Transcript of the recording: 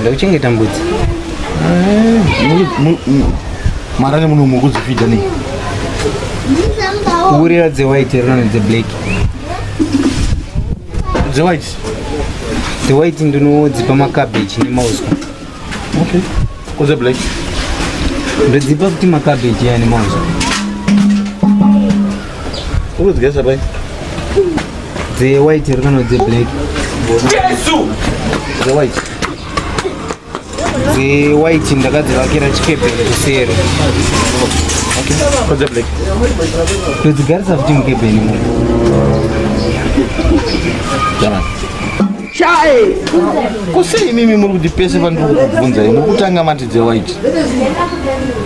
Ndakuchengeta mbudzi. Mara ne munhu mukudzi fida nei? Kurira dze white rona dze black. Dze white. Dze white ndinodzipa ma cabbage ne mauswa. Okay. Ko dze black. Ndodzipa kuti ma cabbage ya ne mauswa. Ukudyesa pai? Dze white here kana dze black? Jesu! Dze white. Dze white ndakadzivakira chikepe kuseri. Okay. Kodze black. Todzigarisa futi mukebeni mu. Jamani. Chai! Kusei mimi muri kuti pese pandiri kukubvunzai mukutanga mati dze white.